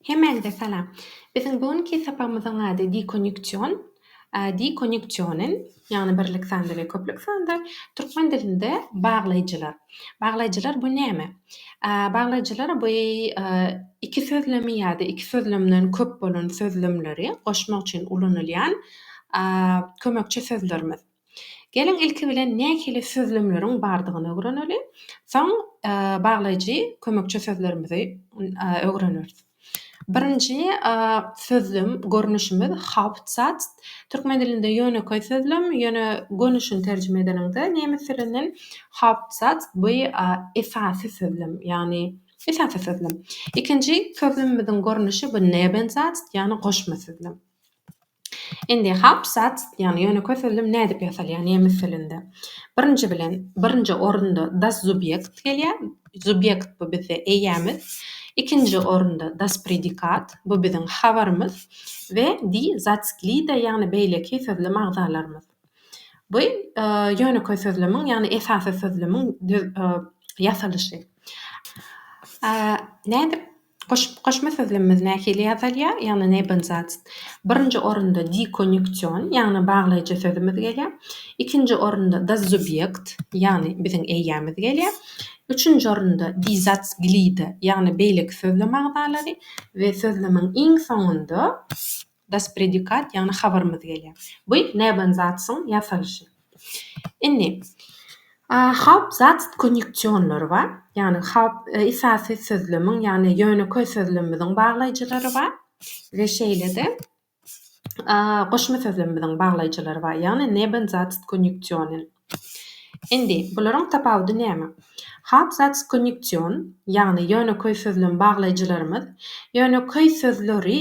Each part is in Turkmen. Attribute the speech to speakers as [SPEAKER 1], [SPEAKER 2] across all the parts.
[SPEAKER 1] Hemmäňize salam. Biziň bu günki sapagymyzyň ady Dekonýuksion, dekonýuksionen, ýagny birlik sanda we köplük sanda, türkmen dilinde baglaýjylar. Baglaýjylar bu näme? Baglaýjylar bu iki sözlemi ýa-da iki sözlemden köp bolan sözlemleri goşmak üçin ulanylýan kömekçi sözlerimiz. Geliň ilki bilen nähili sözlemleriň bardygyny ögreneli, soň baglaýjy kömekçi sözlerimizi ögreneris. Birinji sözlem görnüşimiz Hauptsatz. Türkmen dilinde ýönekeý sözlem, ýöne gönüşini terjime edeniňde nemes dilinden Hauptsatz bu esasy sözlem, ýagny esasy sözlem. Ikinji sözlemimiziň görnüşi bu Nebensatz, ýagny goşma sözlem. Indi Hauptsatz diýýän, ýöne kösüldüm nädip ýasalýar nemes dilinde. Birinji bilen, birinji orunda das Subjekt gelýär. Subjekt bu bizde eýämiz. Ikinji orunda das Predikat, bu biziň habarymyz we die Satzglieder, ýagny beýleki sözlem agzalarymyz. Bu ýöne kösüldümiň, ýagny esasy sözlemiň ýasalyşy. Nädip Goşma sözlemimiz nähili ýazylýar? Ýagny nebenzats. Birinji orunda dekonýunksion, ýagny baglaýjy sözümiz gelýär. Ikinji orunda dazubýekt, ýagny biziň eýämiz gelýär. Üçünji orunda dizats glida, ýagny beýleki sözlem agzalary we sözlemiň iň soňunda Das predikat, ýagny habarymyz gelýär. Bu Nebensatzň ýasalyşy. Indi Hauptsatz konýunksionlary bar, ýagny haupt, esasy sözlemiň, ýagny ýönekeý sözlemimiziň baglaýjylary bar we şeýle-de goşma sözlemimiziň baglaýjylary bar, ýagny Nebensatz konýunksionen. Indi, bularyň tapawudy näme? Hapsatz konýunksiýon, ýagny ýönekeý sözlem baglaýjylarymyz, ýönekeý sözleri,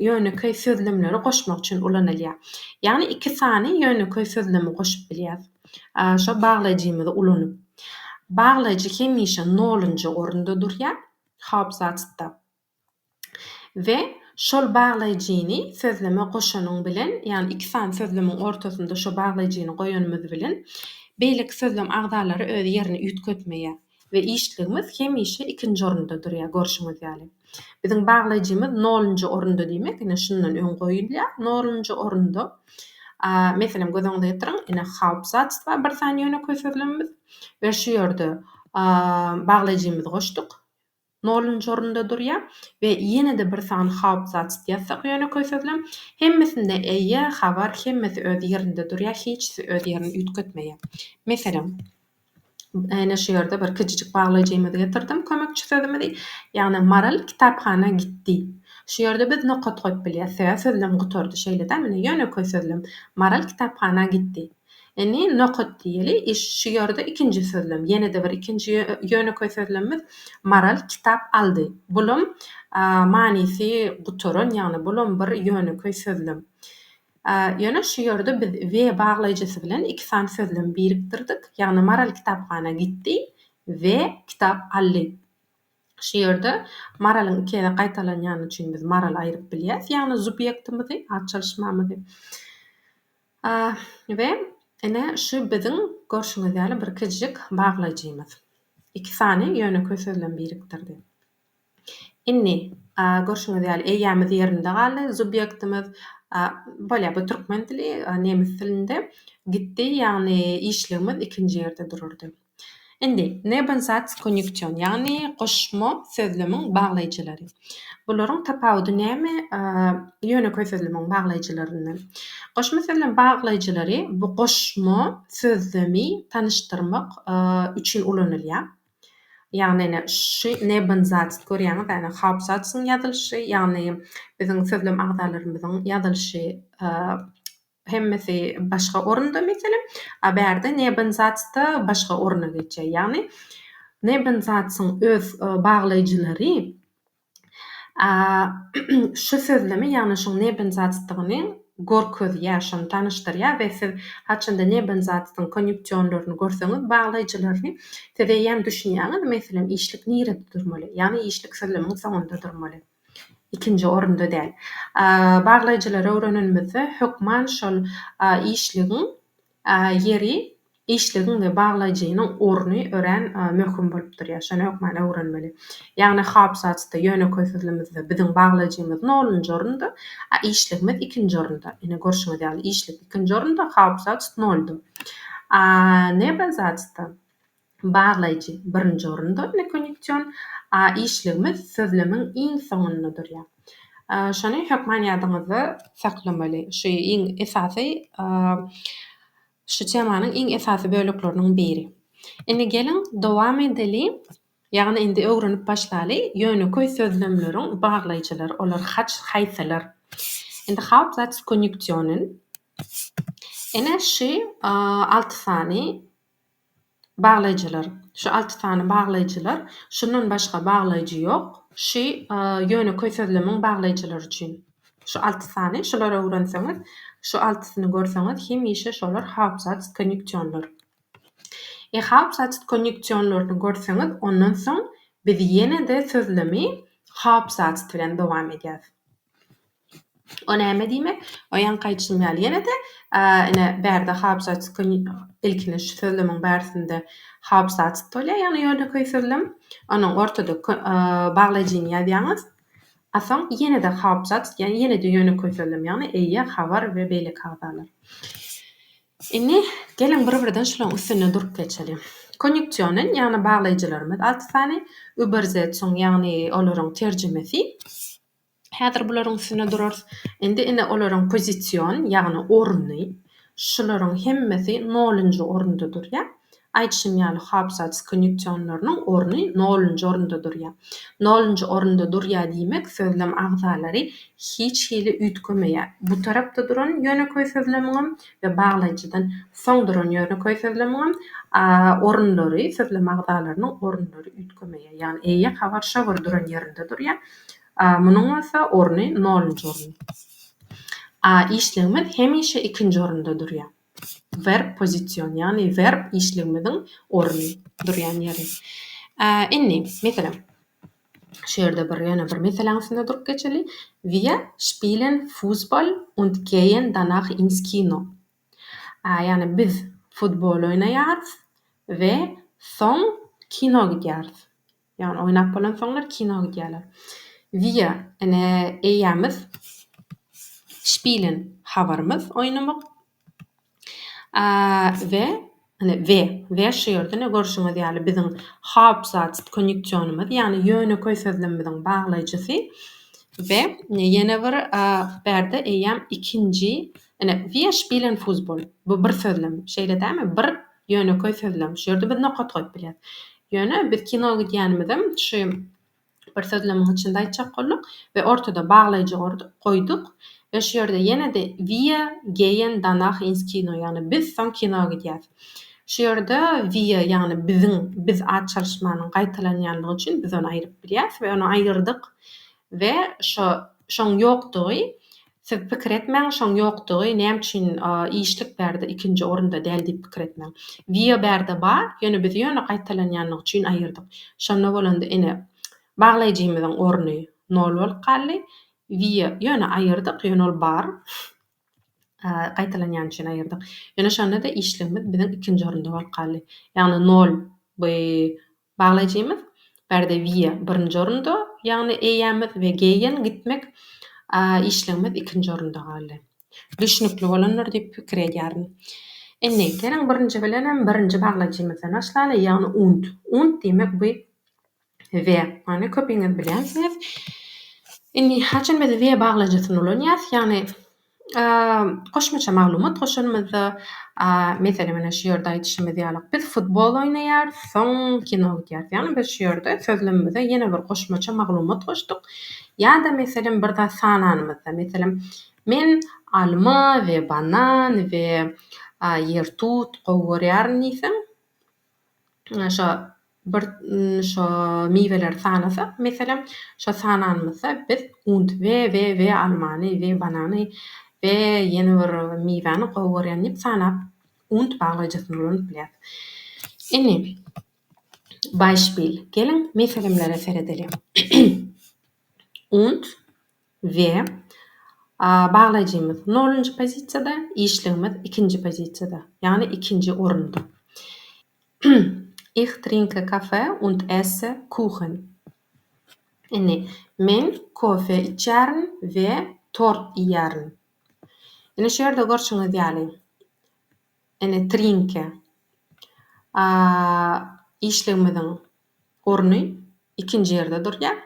[SPEAKER 1] ýönekeý sözlemleri goşmak üçin ulanylýar. Ýagny iki sany ýönekeý sözlemi goşup bilýäs, şo baglaýjymyzy ulanyp. Baglaýjy hemişe nolunjy orunda durýar hapsatzda. we şol baglaýjyny sözleme goşanyň bilen, ýagny iki sany sözlemiň ortasynda şo baglaýjyny goýanymyz bilen beýleki sözlem agzalary öz ýerini üýtgetmeýär we işligimiz hemişe ikinji orunda durýar, görşüňiz ýaly. Biziň baglaýjymyz nolunjy orunda diýmek, ine, şundan öň goýulýar, nolunjy orunda. A, meselem, göz öňünde ýetirin, ine, Hauptsatz-da bir sany ýönekeý sözlemimiz we şu ýerde a, baglaýjymyzy goşduk, Nolunjy orunda durýar we ýene-de bir sany haupzats ýazsak ýönekeý sözlem. Hemmesinde eýe, habar, hemmesi öz ýerinde durýar, hiçsi öz ýerini üýtgetmeýär. Meselem, ene şu ýerde bir kijijik baglaýjymyzy getirdim, kömekçi sözümizi, ýagny Maral kitaphana gitdi. Şu ýerde biz nokat goýup bilýäs, sebäbi sözlem gutardy. Şeýle-dä, mine, ýönekeý sözlem, Maral kitaphana gitdi. Indi nokat diýeli. Şu ýerde ikinji sözlem. Ýene-de bir ikinji ýönekeý sözlemimiz Maral kitap aldy. Bulam manysy gutaran, ýagny bulam bir ýönekeý sözlem. Ýöne şu ýerde biz we baglaýjysy bilen iki sany sözlem birikdirdik. Ýagny Maral kitaphana gitdi we kitap aldy. Şu ýerde Maralyň iki gezek gaýtalanýany üçin biz Maral aýryp bilýäs, ýagny subýektimizi, at çalyşmamyzy. A we ine şu biziň görşüňiz ýaly bir kiçijik baglaýjymyz. Iki sany ýönekeý söz bilen birikdirdi. Indi, a görşüňiz ýaly eýýämiz ýerinde galdy, subýektimiz, a bolýar bu türkmen dili, a nemes dilinde gitdi, ýagny işligimiz ikinji ýerde durardy. Indi, nebensatz-konýunksiýon, ýagny goşma sözlemiň baglaýjylary. Bularyň tapawudy näme ýönekeý sözlemiň baglaýjylaryndan? Goşma sözlem baglaýjylary bu goşma sözlemi tanyşdyrmak üçin ulanylýar. Ýagny ine, şu nebensatz, görýäňizmi, ýagny haupsatzyň ýazylyşy, ýagny biziň sözlem agzalarymyzyň ýazylyşy Hemmesi başga orunda, meselem, a bärde Nebenzatz-da başga oruna geçýär. Ýagny Nebenzatz-yň öz baglaýjylary a şu sözlemi, ýagny şuň Nebenzatz-dygyny gorkezýär, şony tanyşdyrýar we siz haçanda Nebenzatz-yň konýunksionlaryny görseňiz, baglaýjylaryny, siz eýýäm düşünýäňiz, meselem, işlik nirede durmaly, ýagny işlik sözlemiň soňunda durmaly. ikinji orunda däl. Baglaýjylary öwrenenimizde, hökman şol işligiň ýeri, işligiň we baglaýjynyň orny örän möhüm bolup durýar. Şony hökman öwrenmeli. Ýagny hapsatda, ýönekeý sözlemizde biziň baglaýjymyz nolunjy orunda, a işligimiz ikinji orunda. Ine, görşüňiz ýaly, işlik ikinji orunda, hapsat nolda. A nebazatda, Baglaýjy, birinji orunda, ne konýunksiýon, a işligimiz sözlemiň iň soňunda durýar. Şony hökman ýadyňyzda saklamaly. Şu iň esasy şu temanyň iň esasy bölekleriniň biri. Indi geliň, dowam edeli. Ýagny indi öwrenip başlaly, ýönekeý sözlemleriň baglaýjylary olar haç haýsylar? Indi Hauptsatzkonjunktionen. Ene şu alty sany Baglaýjylar. Şu alty sany baglaýjylar. Şundan başga baglaýjy ýok. Şy, ýönekeý sözlemiň baglaýjylary üçin. Şu alty sany. Şulary öwrenseňiz, şu altysyny görseňiz, hemişe şolar haupsatzkonjunktionlar. E haupsatzkonjunktionlaryny görseňiz, ondan soň biz ýene-de sözlemi haupsatz bilen dowam edýäs. O näme diýmek? O ýaňky aýdyşym ýaly ýene-de, ine, bärde haabzatskyn, ilkinji şu sözlemiň bärsinde haabzatsk bolýar, ýagny ýönekeý sözlem. Onuň ortada kö, baglaýjyny ýazýaňyz. A soň ýene-de haabzatsk, ýagny ýene-de ýönekeý sözlem, ýagny eýe, habar we beýleki agzalar. Indi, geliň, bir-birden şularyň üstünde durup geçeliň. Konýuksionen, ýagny baglaýjylarymyz alty sany, übersetzung, ýagny olaryň terjimesi. Häzir bularyň üstünde durarys. Indi ine olaryň pozision, ýagny orny. Şularyň hemmesi nolunjy orunda durýar. Aýdyşym ýaly Hobsatz konýuksionlarynyň orny nolunjy orunda durýar. Nolunjy orunda durýar diýmek sözlem agzalary hiç hili üýtgemeýär. Bu tarapda duran ýönekeý sözlemiňem we baglaýjydan soň duran ýönekeý sözlemiňem orunlary, sözlem agzalarynyň orunlary üýtgemeýär. Ýagny eýe habar şo bir duran ýerinde durýar. A. Munuň bolsa orny nolunjy orun. A. Işligimiz hemişe ikinji orunda durýar. Verb pozisiýon, ýagny verb işligimiziň orny, durýan ýeri. A. Indi, meselem, şu ýerde bir ýöne bir meseläň üstünde durup geçeli. Wir spielen Fußball und gehen danach ins Kino. A. Ýagny biz futbol oýnaýarys we soň kino gidýäris. Ýagny oýnap bolansoňlar kino gidýärler. Wir, ene, eýämiz, spielen, habarymyz, oýnamyk. A, we, ene, we, we şu ýerde ene görşüňiz ýaly biziň Hauptsatz, konýuksionymyz, ýagny ýönekeý sözlemimiziň baglaýjysy. We, ene, ýene bir, a, bärde eýäm ikinji, ene, wir spielen Fussball. Bu bir sözlem. Şeýle dälmi? Bir, Ýönekeý sözlem. Şu ýerde biz nokat goýup bilýäs. Ýöne biz kino gidýänimizem şu bir sözlemiň içinde aýtjak bolduk we ortada baglaýjy gorduk, goýduk we şu ýerde ýene-de wir gehen danach ins Kino, ýagny biz soň kino gidýäs. Şu ýerde wir, ýagny biziň, biz at çalyşmanyň gaýtalanýanlygy üçin biz ony aýryp bilýäs we ony aýyrdyk we şo, şoň ýokdugy Siz pikir etmäň şoň ýokdugy näme üçin işlik bärde ikinji orunda däl diýip pikir etmäň. Wio bärde ba, ýöne biz ýöne gaýtalanýanlygy üçin aýyrdyk. Şonda bolanda ine baglaýjymyzyň orny nol bolup galdy. Wio ýöne aýyrdyk, ýöne ol bar. Gaýtalanýany üçin aýyrdyk. Ýöne şonda-da işligimiz biziň ikinji orunda bolup galdy. Ýagny nol by Baglaýjymyz Bärde Wiýa birinji orunda, ýagny eýämiz we Geýen gitmek işligimiz ikinji orunda galdy. Düşnükli bolandyr diýip pikir edýärin. Indi, geliň birinji bilenem birinji baglaýjymyzdan başlaly, ýagny und. Und diýmek bu we. Ony köpiňiz bilýänsiňiz. Indi, haçan biz we baglaýjysyny ulanýas, ýagny. Goşmaça maglumat goşanymyzda, meselem, ine, şu ýerde aýdyşymyz ýaly, biz futbol oýnaýarys, soň kino gidýäris. Ýagny biz şu ýerde sözlemimize ýene bir goşmaça maglumat goşduk. Ýa-da, meselem, bir zat sananymyzda, meselem, Men alma we banan we ýertut gowy görýärin diýseň, Şo bir şo miweleri sanasak, meselem, şo sananymyzda biz und we we we almany we banany we ýene bir miwäni gowy görýän diýip sanap und baglaýjysyny ulanyp bilýäris. Indi beispil, geliň meselemlere seredeliň. Und we baglaýjymyz nolunjy pozisiýada, işligimiz ikinji pozisiýada, ýagny ikinji orunda. Ich trinke Kaffee und esse Kuchen. Indi, men kofe içýärin we tort iýýärin. Indi şu ýerde görşüňiz ýaly, indi trinke işligimiziň orny ikinji ýerde durýar.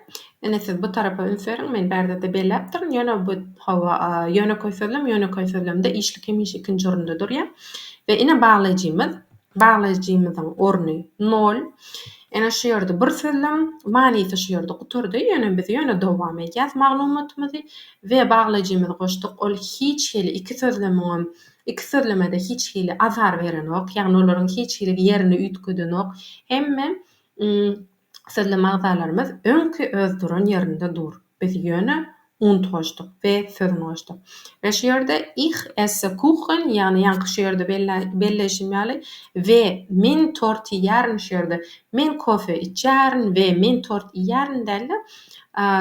[SPEAKER 1] Ine siz bu tarapa üns beriň, men bärde-de belläpdirin, ýöne bu, hawa, ýönekeý sözlem, ýönekeý sözlemde işlik hemişe ikinji orunda durýar. We ine baglaýjymyz, baglaýjymyzyň orny nol. Ine şu ýerde bir sözlem, manysy şu ýerde gutardy, ýöne biz ýöne dowam edýäs maglumatymyzy we baglaýjymyzy goşduk, ol hiç hili iki sözlemiňem Iki sözlemede hiç hili azar berenok, ýagny olaryň hiç hili ýerini üýtgedenok. Hemme sözlem agzalarymyz öňki öz duran ýerinde dur. Biz ýöne und goşduk we sözün goşduk. We şu ýerde Ich esse Kuchen, ýagny ýaňky şu ýerde belleýşim ýaly, we men tort iýýärin, şu ýerde men kofe içýärin we men tort iýýärin däl-de,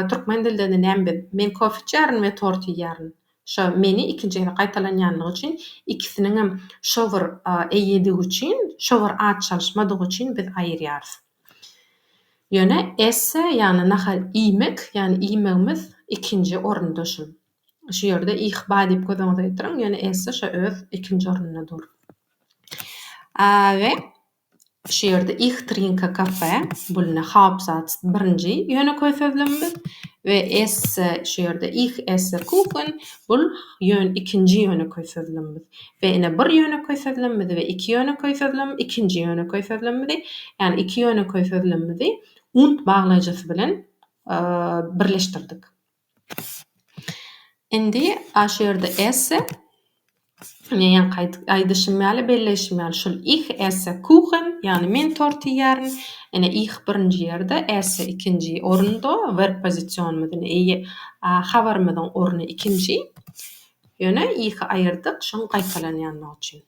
[SPEAKER 1] türkmen dilinde näme biz, men kofe içýärin we tort iýýärin. Şo meni ikinji gezek gaýtalanýanlygy üçin, ikisiniňem şo bir eýedigi üçin, şo bir at çalyşmadygy üçin biz aýyrýarys. Ýöne esse, ýagny nahar iýmek, ýagny iýmegimiz ikinji orunda şul. Şu ýerde ih ba diýip göz öňüňize getiriň, ýöne esse şo öz ikinji ornunda dur. A we. Şu ýerde Ich trinke Kaffee, bu ine Hauptsatz birinji ýönekeý sözlemimiz we esse, şu ýerde Ich esse Kuchen, bul ýön ikinji ýönekeý sözlemimiz we ine bir ýönekeý sözlemimizi we iki ýönekeý sözlem ikinji ýönekeý sözlemimizi, ýagny iki ýönekeý sözlemimizi und baglaýjysy bilen birleşdirdik. Indi a şu ýerde esse, men ýaňky aýdyşym ýaly, belleýşim ýaly, şul ich esse Kuchen, ýagny men tort iýýärin. Ine, ich birinji ýerde, esse ikinji orunda, werb pozisionymyz ine eýe, a habarymyzyň orny ikinji. Ýöne ihi aýyrdyk, şoň gaýtalanýanlygy üçin.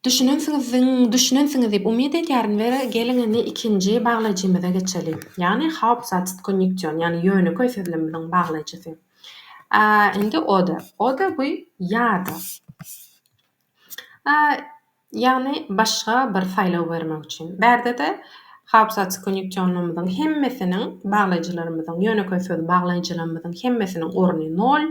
[SPEAKER 1] Düşünensiňizdiň düşünensiňiz diýip umyt edýärin we geliň indi ikinji baglaýjymyza geçeli. Ýagny haupsatz konjunktýon ýagny ýönekeý sözlemimiziň baglaýjysy. A indi oder. Oder bu ýa-da. A ýagny başga bir saýlaw bermek üçin. Bärdede haupsatz konjunktýonymyzyň hemmesiniň baglaýjylarymyzyň ýönekeý söz baglaýjylarymyzyň hemmesiniň orny nol.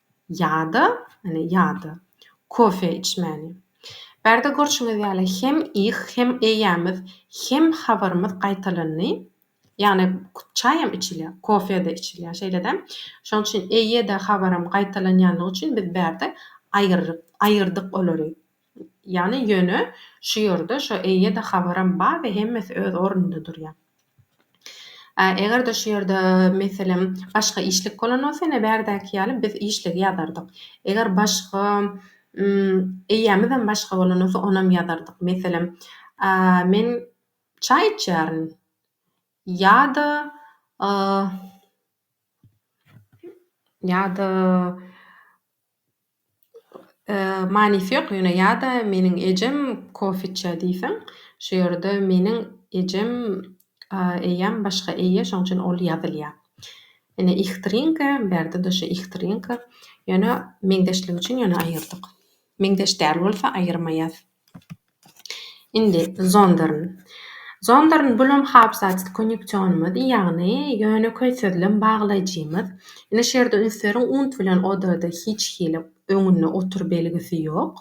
[SPEAKER 1] Ýa-da, ine, ýa-da, kofe içmäni. Bärde görşüňiz ýaly hem ih, hem eýämiz, hem habarymyz gaýtalandy. Ýagny çaýam içilýär, kofe-de içilýär, şeýle-de. Şonuň üçin eýe-de, habaram gaýtalanýanlygy üçin biz bärde aýyrdyk olary. Ýany ýöne şu ýerde şo eýe-de habaram bar we hemmesi öz ornunda durýar. A eger-de şu ýerde meselem başga işlik bolan bolsa ine bärdäki ýaly biz işligi ýazardyk. Eger başga eýämizem başga bolan bolsa onam ýazardyk. Meselem a men çaý içýärin ýa-da ýa-da Manysy ýok ýöne ýa-da meniň ejem kofe içýär diýseň şu ýerde meniň ejem eýýäm başga eýe şoň üçin ol ýazylýar. Ine ich trinke bärde-de şu ich trinke ýöne meňzeşlik üçin ýöne aýyrdyk. Meňzeş däl bolsa aýyrmaýas. Indi Zonderň. Zonderň bulam habsatsyz konýuksionymyz, ýagny ýönekeý sözlem baglaýjymyz. Indi şu ýerde üns beriň, und bilen odada hiç hili öňünde otur belgisi ýok.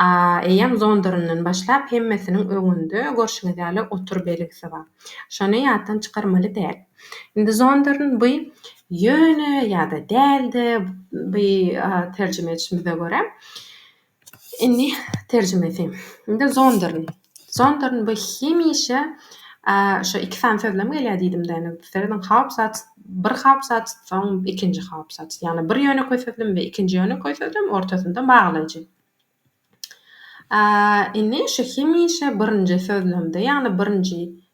[SPEAKER 1] A, eýýäm Zonderňden başlap hemmesiniň öňünde görşüňiz ýaly otur belgisi bar. Şony ýatdan çykarmaly däl. Indi Zonderň bu ýöne ýa-da däl-de, bu terjime etişimize görä, Indi terjimesi. Indi Zondern. Zondern bu hemişe şu iki sany sözlem gelýär diýdimde. Indi serediň Hauptsatz bir hauptsatz, soň ikinji hauptsatz. Ýagny bir ýönekeý sözlem we ikinji ýönekeý sözlem, ortasynda baglaýjy. Indi şu hemişe birinji sözlemde, ýagny birinji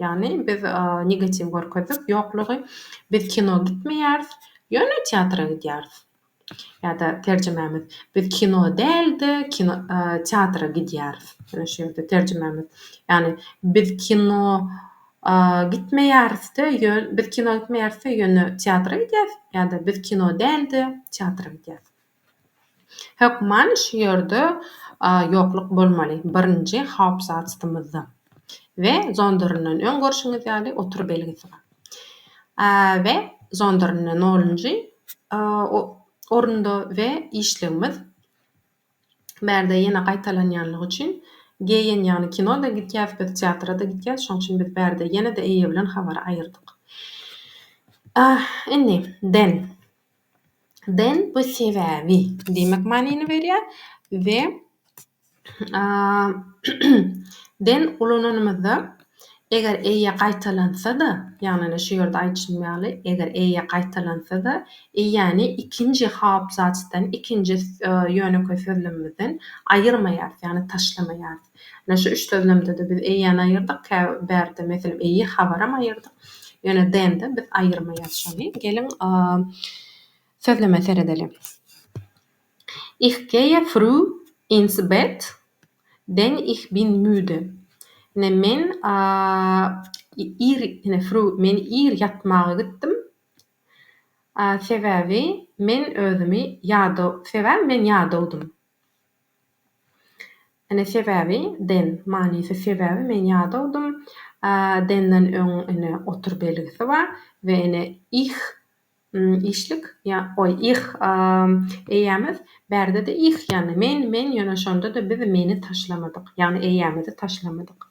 [SPEAKER 1] Ýagny biz negatiw görkezdik, ýoklugy, biz kino gitmeýäris, ýöne teatra gidýäris. Ýa-da terjimämiz, biz kino däl-de, kino, teatra gidýäris. Ýöne şu ýerde terjimämiz, ýagny biz kino gitmeýäris-de, ýön, biz kino gitmeýäris-de, ýöne teatra gidýäris, ýa-da biz kino däl-de, teatra gidýäris. Hökman şu ýerde ýokluk bolmaly, birinji haupsatstymyzda we zondernden öň görşüňiz ýaly otur belgisi bar. We zondernde nolunjy orunda we işligimiz bärde ýene gaýtalanýanlygy üçin GN ýagny kino-da gitýäs biz teatra-da gitýäs şoň üçin biz bärde ýene-de eýe bilen habary aýyrdyk. Indi den. Den bu sebäbi diýmek manyny berýär we den ulananymyzda eger eýe gaýtalansa-da, ýagny şu ýerde aýdyşym ýaly, eger eýe gaýtalansa-da, eýäni ikinji haabzasdan, ikinji ýönekeý sözlemimizden aýyrmaýarys, ýagny taşlamaýarys. Ine, şu üç sözlemde-de biz eýýäni aýyrdyk, kä bärde, meselem, eýe habaram aýyrdyk. Ýöne DN-de biz aýyrmaýarys şony. Geliň, sözleme seredeliň. Ich geýe früh ins Bett, denn ich bin müde. Ine, men ir, ine, früh, men ir ýatmaga gitdim, sebäbi men özümi ýadaw, sebäbi men ýadawdym. Ine sebäbi, den, manysy sebäbi men ýadawdym, a denden öň ine otur belgisi bar we ine ih, işlik, ýa, oý, ih, a, eýämiz, bärde-de ih, ýagny men, men, ýöne şonda-da biz meni taşlamadyk, ýagny eýämizi taşlamadyk.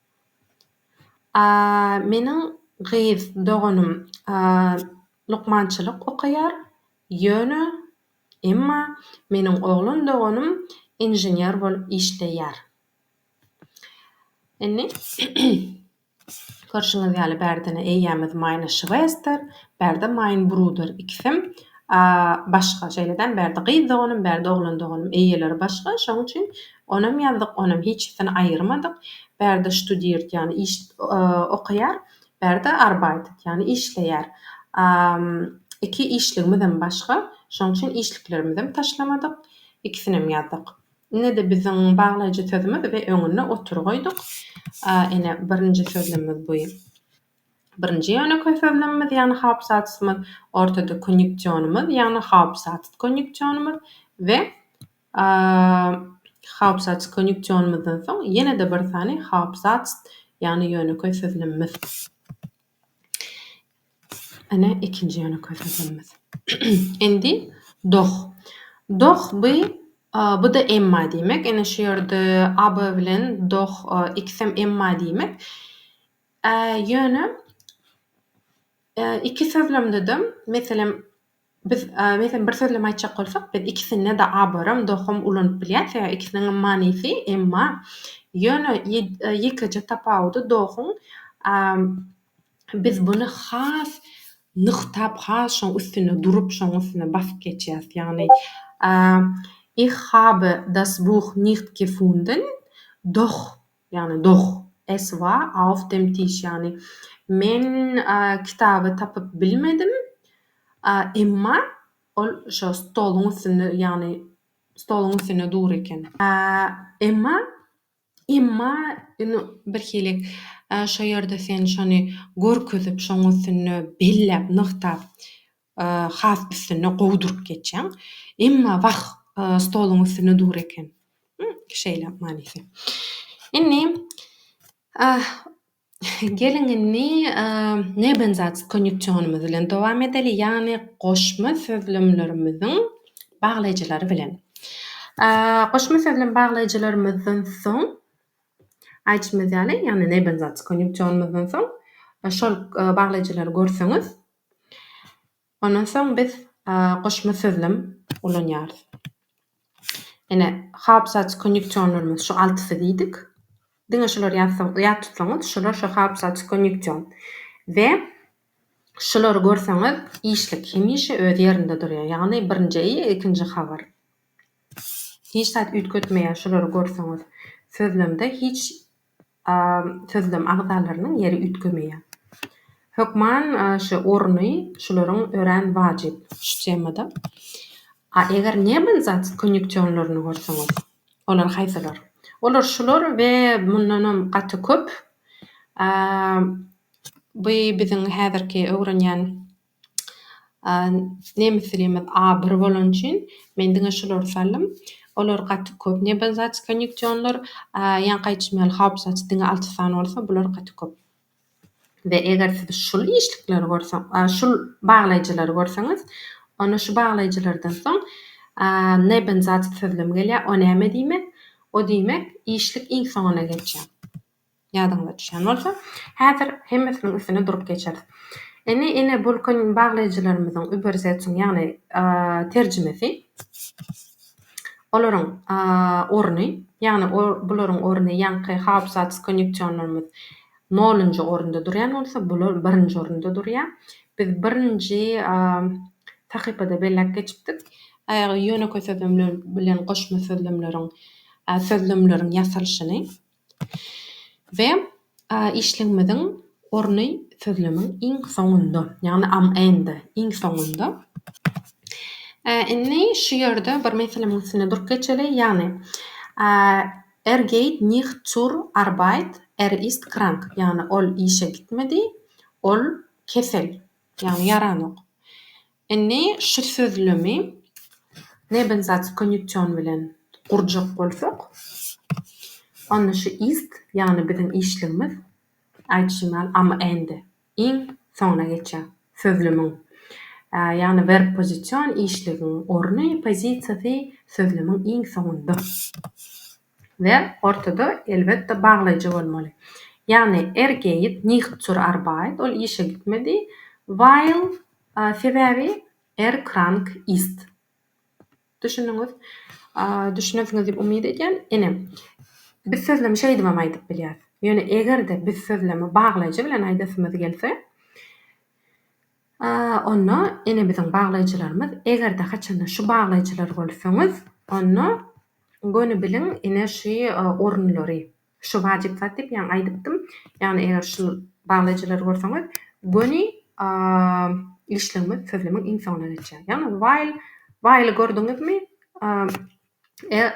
[SPEAKER 1] Meniň gyz doganym lukmançylyk okaýar, ýöne, emma, meniň oglan doganym inžener bolup işleýär. Indi, görşüňiz ýaly, bärde-ne eýýämiz maýyna şwesdir, bärde maýyn bruder. Ikisem başga, şeýle-de bärde gyz doganym, bärde oglan doganym, eýeleri başga. Şonuň üçin Onam ýazdyk, onam hiçisini aýyrmadyk. Bärde ştudirt, ýagny iş okaýar, bärde arbeitet, ýagny işleýär. Iki işligimizem başga, şonuň üçin işliklerimizem taşlamadyk, ikisinem ýazdyk. Ine-de biziň baglaýjy sözümiz we öňüne otur goýduk. Ine, birinji sözlemimiz bu. Birinji ýönekeý sözlemimiz, ýagny haupsatzymyz, ortada konýunksionymyz, ýagny haupsatz konýunksionymyz we Haupsatz konýunksionymyzdan soň ýene-de bir sany Haupsatz, ýagny ýönekeý sözlemimiz. Ine, ikinji ýönekeý sözlemimiz. Indi Doch. Doch bu, bu-da emma diýmek. Ine, şu ýerde aber bilen doch ikisem emma diýmek. Ýöne iki sözlemde-de, meselem, Biz, meselem, bir sözlem aýtjak bolsak, biz ikisinde-de abaram, dohum ulanyp bilýäris, sebäbi ikisiniňem manysy, emma, ýöne ýekeje tapawudy dohuň, biz buny has nygtap, has şoň üstünde durup, şoň üstünde basyp geçýäris. Ýagny, Ich habe das Buch nicht gefunden, doch Ýagny doh. Es war auf dem Tisch, ýagny men kitaby tapyp bilmedim, emma ol şo stoluň üstünde, ýagny stoluň üstünde dur eken. Emma, emma indi birhili şo ýerde sen şony görkezip, şoň üstünde belläp, nygtap has üstünde gowy durup geçýäň. Emma wah, stoluň üstünde dur eken. Şeýle manysy. Indi geliň indi nebenzatsk konýuksionymyz bilen dowam edeli, ýagny goşma sözlemlerimiziň baglaýjylary bilen. Goşma sözlem baglaýjylarymyzdan soň, aýdyşymyz ýaly, ýagny nebenzatsk konýuksionymyzdan soň şol baglaýjylary görseňiz, Ondan soň biz goşma sözlem ulanýarys. Ine, hapsaç konýuksionlarymyz şu altysy diýdik. Diňe şulary ýazsaň, ýat tutsaňyz, şular şu hapsaç konýuksion. We şulary görseňiz, işlik hemişe öz ýerinde durýar. Ýagny birinji eý, ikinji habar. Hiç zat üýtgetmeýär şulary görseňiz. Sözlemde hiç A sözlem agzalarynyň ýeri üýtgemeýär. Hökman ş orny şularyň örän wajyp. Şu temada. A eger nebenzat konýuksionlaryny görseňiz, olar haýsylar? Olar şular we mundanam gaty köp. A by biziň häzirki öwrenýän. Nemislerimiz abyr bolan üçin men diňe şulary saldym. Olar gaty köp nebelzat konýuksionlar, ýa gaýçmýal haupzat diňe alty sany bolsa bular gaty köp. We eger siz şul işlikleri görseň, şul baglaýjylary görseňiz, onda şu baglaýjylardan soň nebenzatsözlem gelýär. O näme diýmek? O diýmek işlik iň soňuna geçýär. Ýadyňyza düşýän bolsa, häzir hemmesiniň üstüne durup geçeris. Ene, ene bolkan baglaýjylarymyzyň überseçiň, ýagny terjimesi, olaryň orny, ýagny bularyň orny ýaňky haupsatz konýunksionlarymyz nolunjy orunda durýan bolsa, bular birinji orunda durýar. Biz birinji sahypada belläp geçipdik. Ýönekeý sözlemler bilen goşma sözlemleriň sözlemleriň ýasalyşyny. We işligimiziň orny sözlemiň iň soňunda, ýagny am end, iň soňunda. Indi şu ýerde bir meselemiň üstünde durup geçeli, ýagny Er geht nicht zur Arbeit, er ist krank, ýagny ol işe gitmedi, ol kesel, ýagny ýaranok. Indi şu sözlemi nebenzat konýuksion bilen gurjak bolsak, onda şu ist, ýagny biziň işligimiz, aýdyşym ýaly, am-ende, iň soňuna geçýär. Sözlemiň, ýagny werb pozision işligiň orny, pozisiýasy, sözlemiň iň soňunda. we ortada elbetde baglaýjy bolmaly. Ýagny er geht nicht zur Arbeit, ol işe gitmedi, weil, sebäbi, er krank ist. Düşündiňiz? Düşünersiňiz diýip umyt edýän. Ine, biz sözlemi şeýdibem aýdyp bilýäris. Ýöne eger-de biz sözlemi baglaýjy bilen aýdasymyz gelse, A onda ene biziň baglaýjylarymyz eger-de haçanda şu baglaýjylar bolsaňyz onda göni biliň ine şü orunlary şu wajyp zat diýip ýaňy aýdypdym ýagny eger şu baglaýjylary bolsaňyz göni işlegiňiz sözlemiň iň soňuna geçýär ýagny while while-y gördüňizmi Er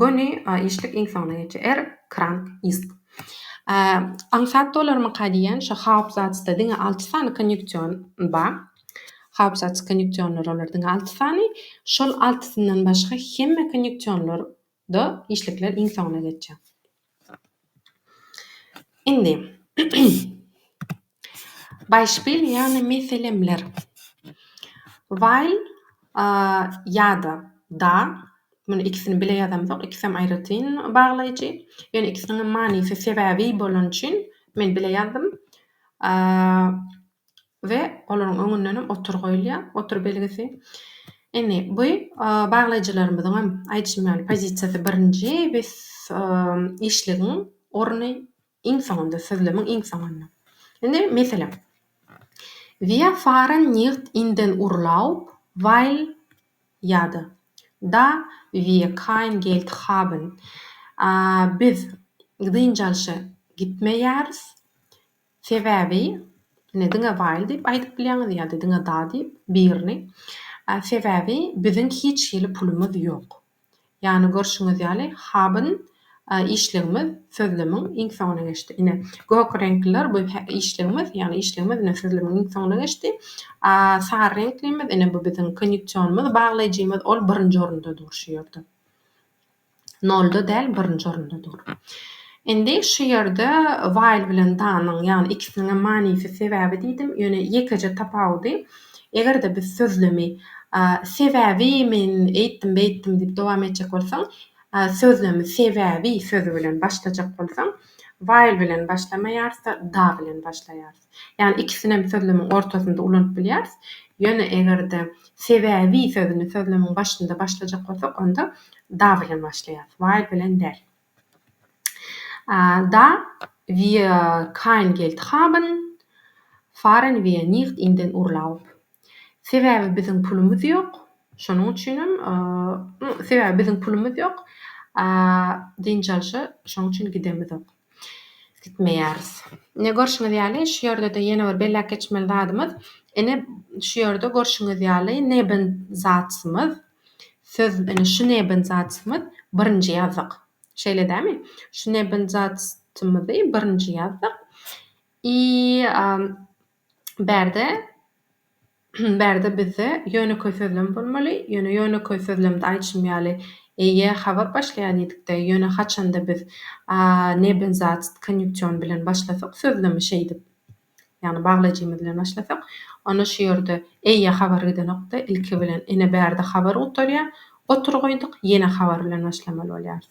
[SPEAKER 1] göni a işlik iň soňuna geçýär. Er krank ist. A aňsat dolarmyka diýýän şo haupsatzda diňe alty sany konýuksion ba. Haupsatz konýuksionlar olar diňe alty sany. Şol altysyndan başga hemme konýuksionlar da işlikler iň soňuna geçýär. Indi, beispil, ýagny meselemler, while ýa-da da, muny ikisini bile ýazamzok, ikisem aýratyn baglaýjy, ýöne ikisiniňem manysy sebäbi bolan üçin men bile ýazdym. we olaryň öňündenem otur goýulýar, otur belgisi. Indi bu baglaýjylarymyzyň hem aýdyşym ýaly pozisiýasy birinji, biz işligiň orny iň soňunda, sözlemiň iň soňunda. Indi meselem, Wir fahren nicht in den Urlaub, weil ýa-da Da wir kein Geld haben, biz dynç alşa gitmeýäris, Sebäbi, ine, diňe Waýl diýip aýdyp bilýäňiz ýa-da diňe Da diýip, birini. Sebäbi, biziň hiç hili pulumyz ýok. Ýagny, görşüňiz ýaly, haben işligimiz sözlemiň iň soňuna geçdi. Ine, gök reňkliler bu işligimiz, ýagny işligimiz ine sözlemiň iň soňuna geçdi. A sary reňklimiz, ine bu biziň konýuksionymyz, baglaýjymyz, ol birinji orunda dur şu ýerde. Nolda däl, birinji orunda dur. Indi şu ýerde while bilen danyň, ýagny ikisiniňem manysy sebäbi diýdim, ýöne ýekeje tapawudy, eger-de biz sözlemi sebäbi men eýtdim, beýtdim diýip dowam etjek bolsaň, sözlemi sebäbi sözi bilen başlajak bolsaň, while bilen başlamaýars-da, da bilen başlaýars. Ýagny ikisinem sözlemiň ortasynda ulanyp bilýäris. Ýöne eger-de sebäbi sözüni sözlemiň başynda başlajak bolsak, onda da bilen başlaýarys, while bilen däl. Da wir kein Geld haben, fahren wir nicht in den Urlaub. Sebäbi biziň pulumyz ýok. Şonuň üçinem Sebäbi biziň pulumyz ýok. Dynç alşa şonuň üçin gidemizok. Gitmeýäris. Ine görşüňiz ýaly şu ýerde-de ýene bir belläp geçmeli zadymyz. Ine şu ýerde görşüňiz ýaly Nebenzatymyz. Söz ine şu Nebenzatymyz birinji ýazdyk. Şeýle dämi? Şu Nebenzatymyzy birinji ýazdyk. I Bärde-bärde bizde ýönekeý sözlem bolmaly, ýöne ýönekeý sözlemde aýtşym ýaly, eýe, habar başlaýan diýdik-de, ýöne haçanda biz a nebenzatst konýuksion bilen başlasak sözlemi şeýdip, ýagny baglaýjymyz bilen başlasak, onda şu ýerde eýe habar gidenok-da, ilki bilen, ine, bärde habar gutarýar, otur goýduk, ýene habar bilen başlamaly bolýarys.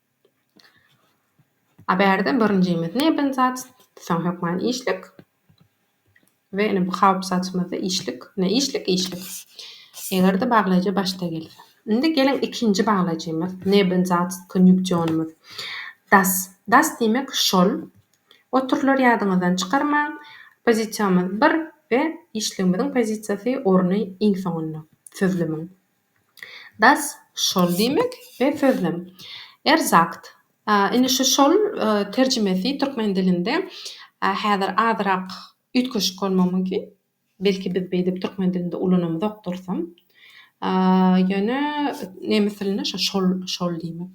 [SPEAKER 1] A bärde birinjimiz nebin zat, soň hökman işlik we ine bu hawp zatymyzda işlik, ine işlik, işlik. Eger-de baglaýjy başda gelse. Indi geliň ikinji baglaýjymyz, nebin zat, konýuksionymyz. Das, das diýmek şol, oturylar ýadyňyzdan çykarmaň. Pozisiýamyz bir we işligimiziň pozisiýasy, orny iň soňunda sözlemiň. Das, şol diýmek, we sözlem. Er sagt, indi şu şol terjimesi türkmen dilinde häzir azyrak üýtgeşik bolmagy mümkin, belki biz beýdip türkmen dilinde ulanamyzokdyrysam, ýöne nemes dilinde şo şol şol diýmek.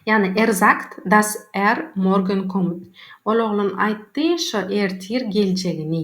[SPEAKER 1] Ýagny er sagt, das er morgen kommt, ol oglan aýtdy, şo ertir geljegini.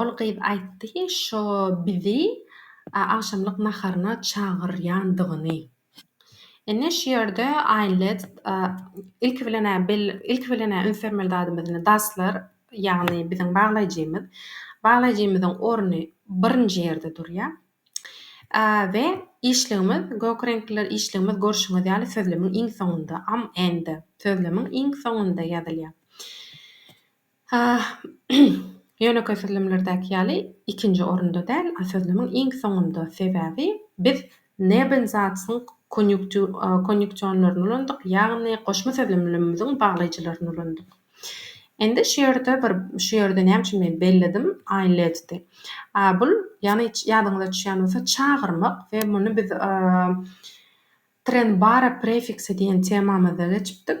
[SPEAKER 1] Ol gyz aýtdy şo bizi agşamlyk naharyna çagyrýandygyny. Indi şu ýerde Aýlet ilki bilen ilki bilen üns bermeli zadymyz indi Daslar ýagny biziň baglaýjymyz. Baglaýjymyzyň orny birinji ýerde durýar. We işligimiz gök reňkliler işligimiz görşüňiz ýaly sözlemiň iň soňunda am end sözlemiň iň soňunda ýazylýar. Hah, ýönekeý sözlemlerdäki ýaly ikinji orunda däl, a sözlemiň iň soňunda, sebäbi biz Nebensatzň konýunksionlaryny ulandyk, ýagny goşma sözlemlerimiziň baglaýjylaryny ulandyk. Indi şu ýerde bir, şu ýerde näme üçin men belledim, einledte. A bul, ýagny ýadyňyza düşýän bolsa, çagyrmak we muny biz trennbare prefiksi diýen temamyzda geçipdik.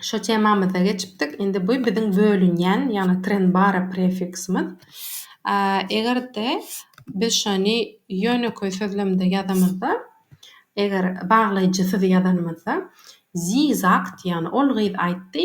[SPEAKER 1] Şu temamyza geçipdik. Indi bu biziň bölünýän, ýagny trenbara prefiksimiz. Eger-de biz şony ýönekeý sözlemde ýazanymyzda, eger baglaýjysyz ýazanymyzda, Sie sagt, ýagny ol gyz aýtdy,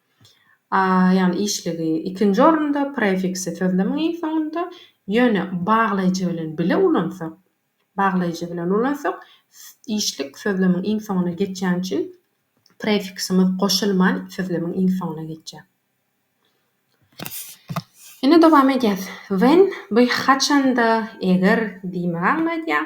[SPEAKER 1] A ýagny işligi ikinji orunda, prefiksi sözlemiň iň soňunda, ýöne baglaýjy bilen bile ulansak, baglaýjy bilen ulansak, işlik sözlemiň iň soňuna geçýäni üçin prefiksimiz goşulman sözlemiň iň soňuna geçýär. Indi dowam edýäs. When, bu haçanda, eger diýmegi aňladýar.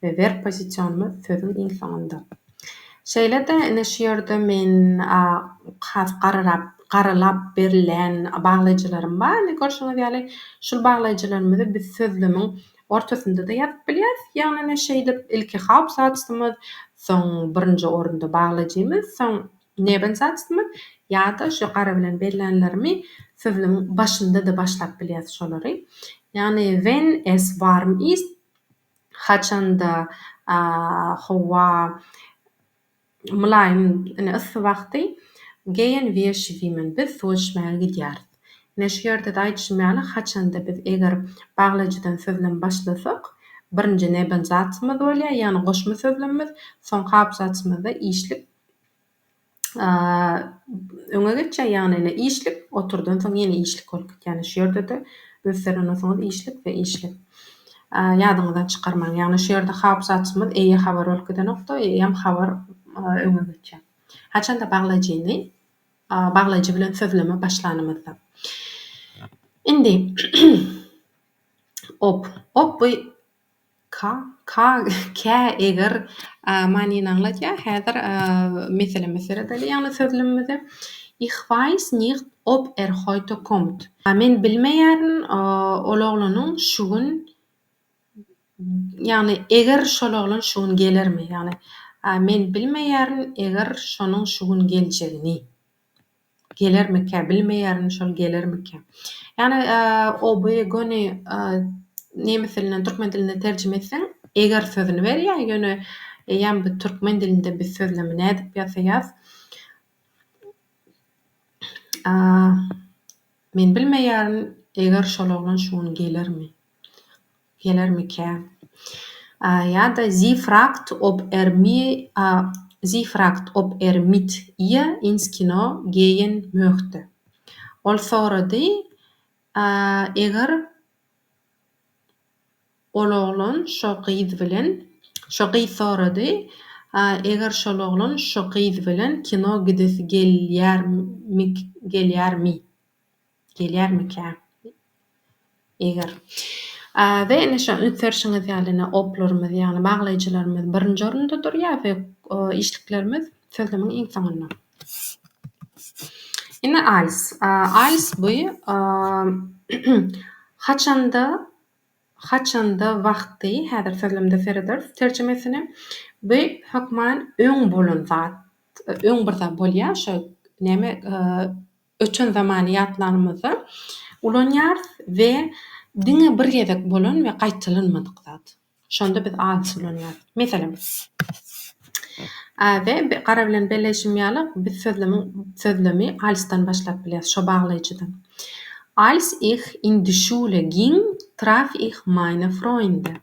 [SPEAKER 1] we verb pozisionymyz sözüň iň soňunda. Şeýle-de ine şu ýerde men has garyrap garylap berilýän baglaýjylarym bar. Ine görşüňiz ýaly şul baglaýjylarymyzy biz sözlemiň ortasynda-da ýazyp bilýäris. Ýagny ine şeýdip ilki hauptsatzymyz, soň birinji orunda baglaýjymyz, soň nebensatzymyz ýa-da şu gara bilen bellänlerimi sözlemiň başynda-da başlap bilýäris şolary. Ýagny Wenn es warm ist. Haçanda howa mylaýym, ine, yssy wagty geýen weşi diýmen, biz suw içmäge gidýäris. Ine, şu ýerde-de aýdyşym ýaly, haçanda biz eger baglaýjydan sözlem başlasak, birinji nebenzatymyz bolýar, ýagny goşma sözlemimiz, soňky abzatymyzda işlik öňe geçýär, ýagny ine işlik, oturdan soň ýene işlik bolup gitýär. Ýagny şu ýerde-de göterensoňyz işlik we işlik. Ýadyňyzdan çykarmaň. Ýagny şu ýerde hap zatymyz eýe habar bolup gidenokda, eýem habar öňe geçýär. Haçanda baglaýjyny baglaýjy bilen sözleme başlanymyzda. Indi op, op bu Ka, ka, kä, eger, manyny aňladýar. Häzir meseleme seredeli ýagny sözlümimize. Ich weiß nicht ob er heute kommt. Men bilmeýärin ol oglanyň şu gün ýagny eger şol oglan şu gün gelermi ýagny men bilmeýärin eger şonuň şu gün geljegini. Gelermikä, bilmeýärin şol gelermikä. Ýagny oby göni nemes dilinden türkmen diline terjime etseň eger sözüni berýär, ýöne eýýäm bu türkmen dilinde biz sözlemi nädip ýasaýas. Men bilmeýärin eger şol oglan şu gün gelermi. Gelermikä? Ýa-da Sie fragt, ob er mir, sie fragt, ob er mit ihr ins Kino gehen möchte. Ol sorady, eger ol oglan şo gyz bilen, şo gyz sorady, eger şol oglan şo gyz bilen kino gidesi gelýärmi, gelýärmi? Gelýärmikä? Eger. We ine şo ünsdürşiňiz ýaly ine oplarymyz ýagny baglaýjylarymyz birinji orunda durýar we işliklerimiz sözlemiň iň soňunda. Ine als. Als bu haçanda haçanda wagty häzir sözlemde serederis terjimesine. Bu hökman öň bolan zat öň bir zat bolýar şo näme Öten zamany ýatlanymyzda ulanýarys we diňe bir gezek bolan we gaýtalanmadyk zat. Şonda biz adys ulanýarys. Meselem, we gara bilen belleýşim ýaly, biz sözlemiň sözlemi alysdan başlap bilýäris, şo baglaýjydan. Als ich in die Schule ging, traf ich meine Freunde.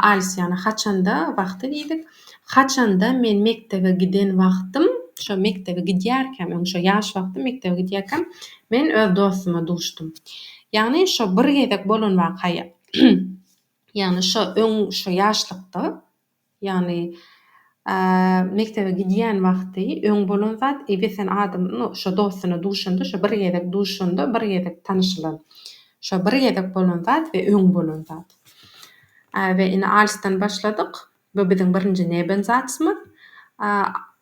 [SPEAKER 1] Alis ýagny haçanda wagty diýdik. Haçanda men mekdebe giden wagtym, şo mekdebe gidýärkäm, ýagny şo ýaş wagtym mekdebe gidýärkäm men öz dostuma duşdum. Ýagny şo bir gezek bolan waka ýa ýagny şo öň şo ýaşlykda. Ýagny mekdebe gidýän wagty öň bolan zat eý sen adam şo dostuna duşanda şo bir gezek duşanda bir gezek tanyşylan şo bir gezek bolan zat we öň bolan zat we indi alysdan başladyk bu biziň birinji neben zatymyz.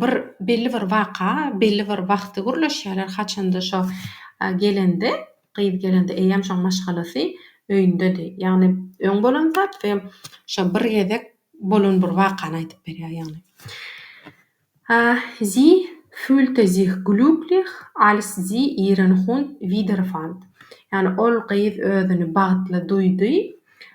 [SPEAKER 1] bir belli bir waka belli bir wagty gürleşýärler haçanda şo gelende gyz gelende eýýäm şoň maşgalasy öýündedi ýagny öň bolan zat we şo bir gezek bolan bir wakany aýdyp berýär ýagny sie fühlte sich glücklich als sie ihren hund wiederfand ýagny ol gyz özüni bagtly duýdy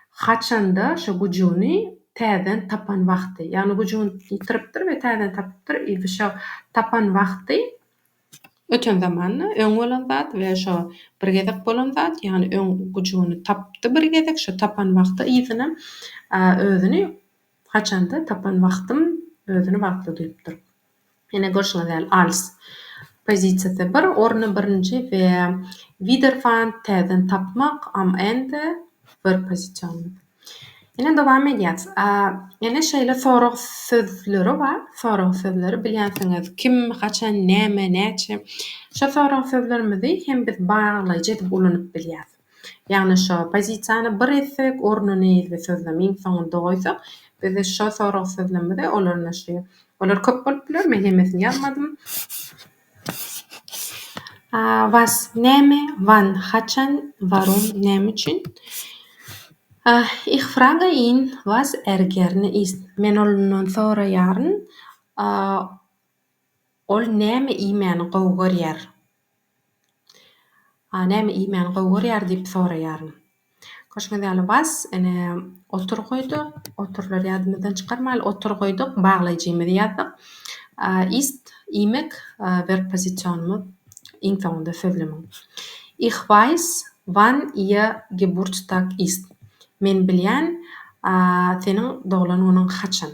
[SPEAKER 1] Haçanda şo güjügini täzeden tapan wagty, ýagny güjügini ýitiripdir we täzeden tapypdyr i şo tapan wagty öten zamanda öň bolan zat we şo bir gezek bolan zat, ýagny öň güjügini tapdy bir gezek, şo tapan wagty yzyna özüni haçanda tapan wagtym özüni wagtly duýupdyr. Ýene görşüňiz ýaly Als pozisiýasy bir, orny birinji we Widerfant täzeden tapmak, Amend, bir pozisiýonymyz. Ýene dowam edýäs. Ýene şeýle sorag sözleri bar. Sorag sözleri bilýänsiňiz, kim, haçan, näme, näçe. Şo sorag sözlerimizi hem biz baglaýjy edip ulanyp bilýäs. Ýagny şo pozisiýany bir etsek orny neýildi sözlem iň soňunda goýsak biz şo sorag sözlemde olar naşy olar köp bolup biler men hemmesini ýazmadym. Was näme wann haçan warum näme üçin Ich frage ihn was er gerne isst men ondan soraýaryn ol näme iýmäni gowy görýär. A näme iýmäni gowy görýär diýip soraýaryn. Görşüňiz ýaly was, ine, otur goýduk. Oturlary ýadymyzdan çykarmaýly. Otur goýduk, baglaýjymyzy ýazdyk. A ist, iýmek, werb pozisionymyz iň soňunda sözlemiň. Ich weiß, wann ihr Geburtstag ist. Men bilýän, a, seniň doglan günüň haçan.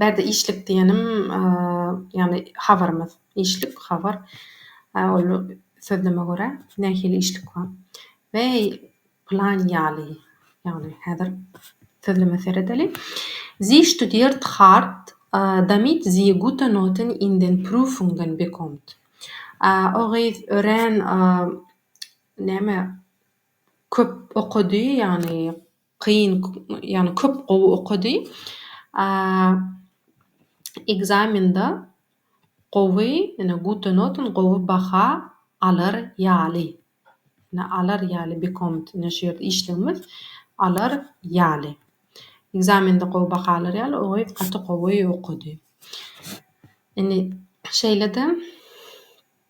[SPEAKER 1] Bärde işlik diýenim, ýagny habarymyz, işlik, habar, ol sözleme görä nähili işlik bar. Weý, plan ýaly, ýagny häzir sözleme seredeliň. Sie studiert hart, damit sie gute Noten in den Prüfungen bekommt. O gyz örän, näme, köp okady, ýagny, Kyn ýagny köp gowy okady. Ekzamende gowy ýne gute noten gowy baha alar ýaly. Ýne alar ýaly bekommt ýne şu ýerde işlegimiz alar ýaly. Ekzamende gowy baha alar ýaly o gyz gaty gowy okady. Indi şeýle-de.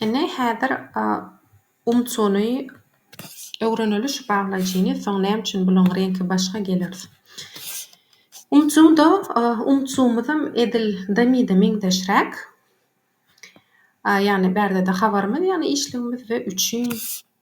[SPEAKER 1] Ine, häzir umçuny öwreneli şu baglaýjyny, soň näme üçin bulaň reňki başga geleris. Umçuňda umçumyzam edil damida meňzeşräk. Ýagny bärde-de habarymyz ýagny işligimiz we üçin.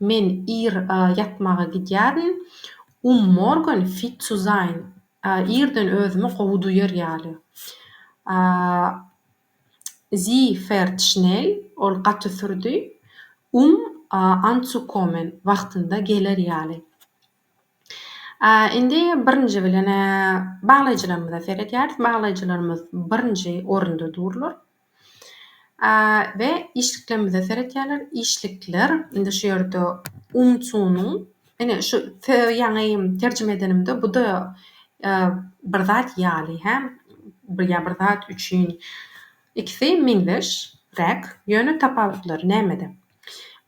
[SPEAKER 1] Men ir ýatmaga gidýärin. Um morgen fit zu sein. Irden özümi gowy duýar ýaly. Sie fährt schnell. Ol gaty sürdi. Um anzukommen. Wagtynda geler ýaly. Indi birinji bilen-ä baglaýjylarymyza seredýäris. Baglaýjylarymyz birinji orunda durlar. we işliklerimize seretýärler. Işlikler indi şu ýerde umçunyň ine şu ýaňy terjime edenimde bu-da bir zat ýaly hä ýa bir zat üçin ikisi meňzeş räk ýöne tapawutlary nämede?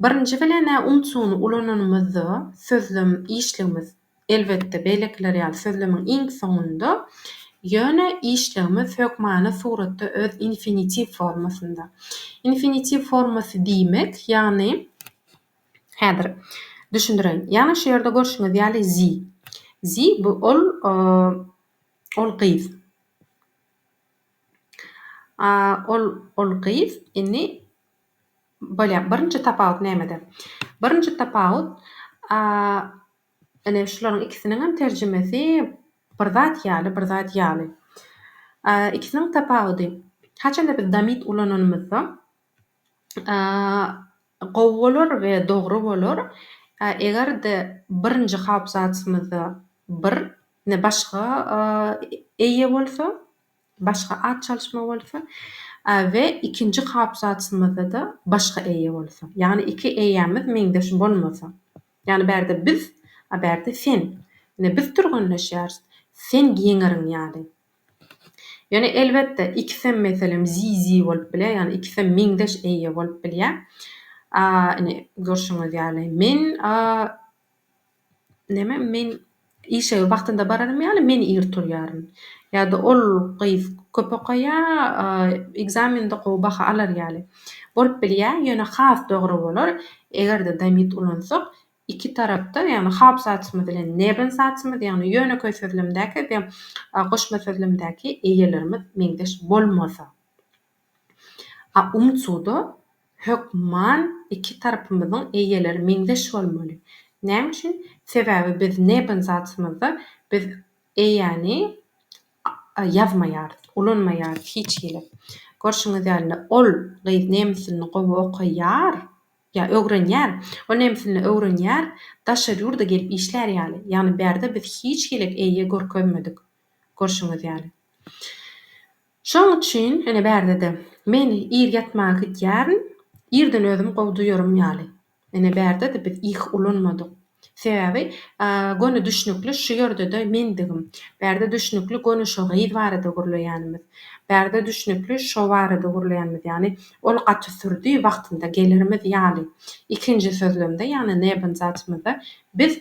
[SPEAKER 1] Birinji bilen-ä umçuny ulananymyzda sözlem işligimiz Elbetde, beýlekiler ýaly sözlemiň iň soňunda, ýöne işlegimiz hökmany suratda öz infinitiw formasynda. Infinitiw formasy diýmek, ýagny, häzir düşündireýin. Ýagny şu ýerde görşüňiz ýaly zi. Zi bu ol ol gyz. A ol ol gyz. Indi. Bolýar. Birinji tapawut nämede? Birinji tapawut, a, ine, şularyň ikisiniň hem terjimesi bir zat ýaly, bir zat ýaly. A, ikisiniň tapawudy, haçanda biz damit ulananymyzda, a, gowy bolar we dogry bolar, a, eger-de birinji haobsatymyzda bir, ne başga, a, eýe bolsa, Başga at çalyşma bolsa we ikinji kapsatymyzda-da başga eýe bolsa. Ýagny iki eýämiz meňzeş bolmasa. Ýagny bärde biz, a bärde sen. Ine biz türgenleşýäris. Sen ýeňerin ýaly. Ýöne elbetde ikisem meselem zi-zi bolup bilýär. Ýagny ikisem meňzeş eýe bolup bilýär. A ine görşüňiz ýaly men a Näme, men işege wagtynda bararym ýaly men ir turýaryn. Ýa-da ol gyz köp okaýar, ekzamende gowy baha alar ýaly. Bolup bilýär, ýöne has dogry bolar, eger-de damit ulansak, iki tarapda, ýagny hap zatymyz bilen nerwin zatymyz, ýagny ýönekeý sözlemdäki we goşma sözlemdäki eýelerimiz meňzeş bolmasa. A umsuda hökman iki tarapymyzyň eýeleri meňzeş bolmaly. Näme üçin? Sebäbi biz neben zatymyzda biz eýäni ýazmaýarys, ulanmaýarys hiç hili. Görşüňiz ýaly, ol gyz nemes dilini gowy okaýar, ýa öwrenýär. Ol nemes dilini öwrenýär, daşary ýurda gelip işlär ýaly. Ýagny bärde biz hiç hili eýe görkezmedik. Görşüňiz ýaly. Şonuň üçin, ine, bärde-de, men ir ýatmaga gidýärin, irden özümi gowy duýarym ýaly. Ine, bärde-de biz ih ulanmadyk. Sebäbi, göni düşnükli şu ýerde-de mendigim. Bärde düşnükli göni şo gyz barada gürleýänimiz. Bärde düşnükli şo barada gürleýänimiz, ýagny ol gaty sürdi, wagtynda gelerimiz ýaly. Ikinji sözlemde, ýagny nebenzatymyzda biz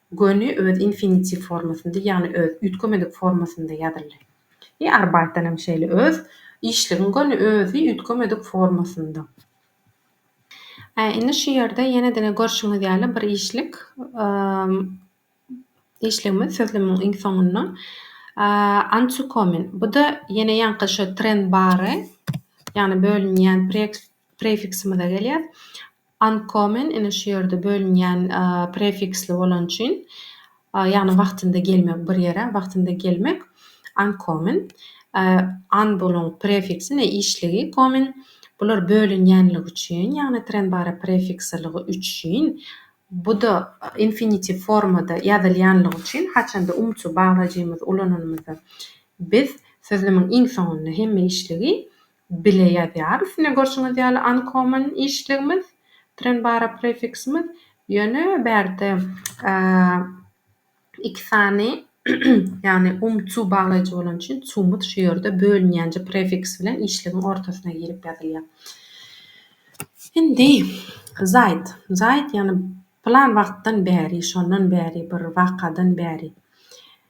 [SPEAKER 1] Göni öz infinitiw formasynda, ýagny öz üýtgemedik formasynda ýazyldy. I arbaýtdan hem şeýle öz işligiň göni özi üýtgemedik formasynda. Ä indi şu ýerde ýene diňe görşüňiz ýaly bir işlik işligimiz sözlemiň iň soňunda antyukomin. Bu-da ýene ýaňky şu tren bary, ýagny bölünýän prefiksimize gelýär. Ankomen ine şu ýerde bölünýän prefiksli bolan üçin, ýagny wagtynda gelmek bir ýere, wagtynda gelmek, ankommen, an boluň prefiksi ne işligi, kommen, bular bölünýänligi üçin, ýagny trenbara prefikslilygy üçin, bu-da infinitiv formada ýazylýanlygy üçin, haçanda umçy baglajymyzy ulananymyzda biz sözlemiň iň soňunda hemme işligi, bile ýazýarys. Ine, görşüňiz ýaly, uncommon işligimiz, trenbara prefiksimiz, ýöne bärde iki sany, ýagny um-cu baglaýjy bolany üçin cumyz şu ýerde bölünýänje prefiks bilen işligiň ortasyna girip ýazylýar. Indi, zaýt, zaýt, ýagny plan wagtdan bäri, şondan bäri, bir wakadan bäri.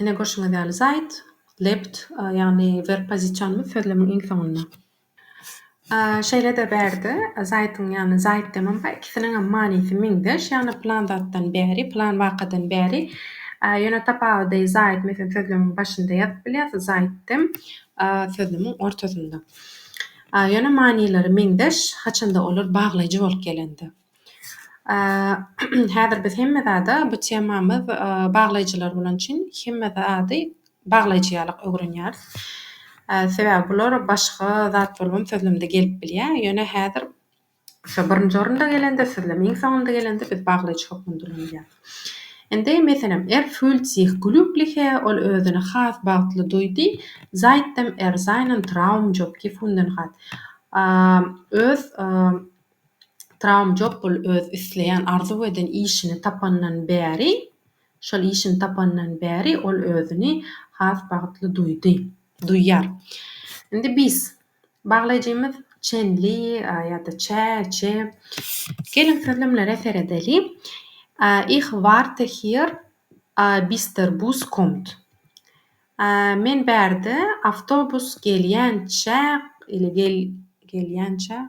[SPEAKER 1] Ine görşüňiz ýaly zaýt, lebt, ýagny werb pozisionymyz sözlemiň iň soňunda. Şeýle-de bärde zaýtyň ýagny zaýt demem bar, ikisiniňem manysy meňzeş, ýagny plan zatdan bäri, plan wakadan bäri. Ýöne tapawudy zaýt meselem sözlemiň başynda ýazyp bilýäs, zaýt dem sözlemiň ortasynda. Ýöne manylary meňzeş, haçanda olar baglaýjy bolup gelende. Häzir biz hemme zada bu temamyz baglaýjylar bolan üçin hemme zady baglaýjy ýalyk öwrenýäris. Sebäbi bular başga zat bolubam sözlemde gelip bilýä. Ýöne häzir şo birinji orunda gelende sözlem iň soňunda gelende biz baglaýjy hökmünde ulanylýar. Indi meselem Er fühlt sih glügliche ol özüni has bagtly duýdy, seitdem er seinen Traum job gefunden hat öz Traumjobbul öz isleýän, arzuw eden işini tapandan bäri, şol işini tapandan bäri ol özüni has bagtly duýdy, duýýar. Indi biz, baglaýjymyz Çen Li ýa-da Çä, Çe, geliň sözlemlere seredeli. Ich warte hier, bis der Bus kommt. Men bärde, awtobus gelýänçä, ile gelýänçä,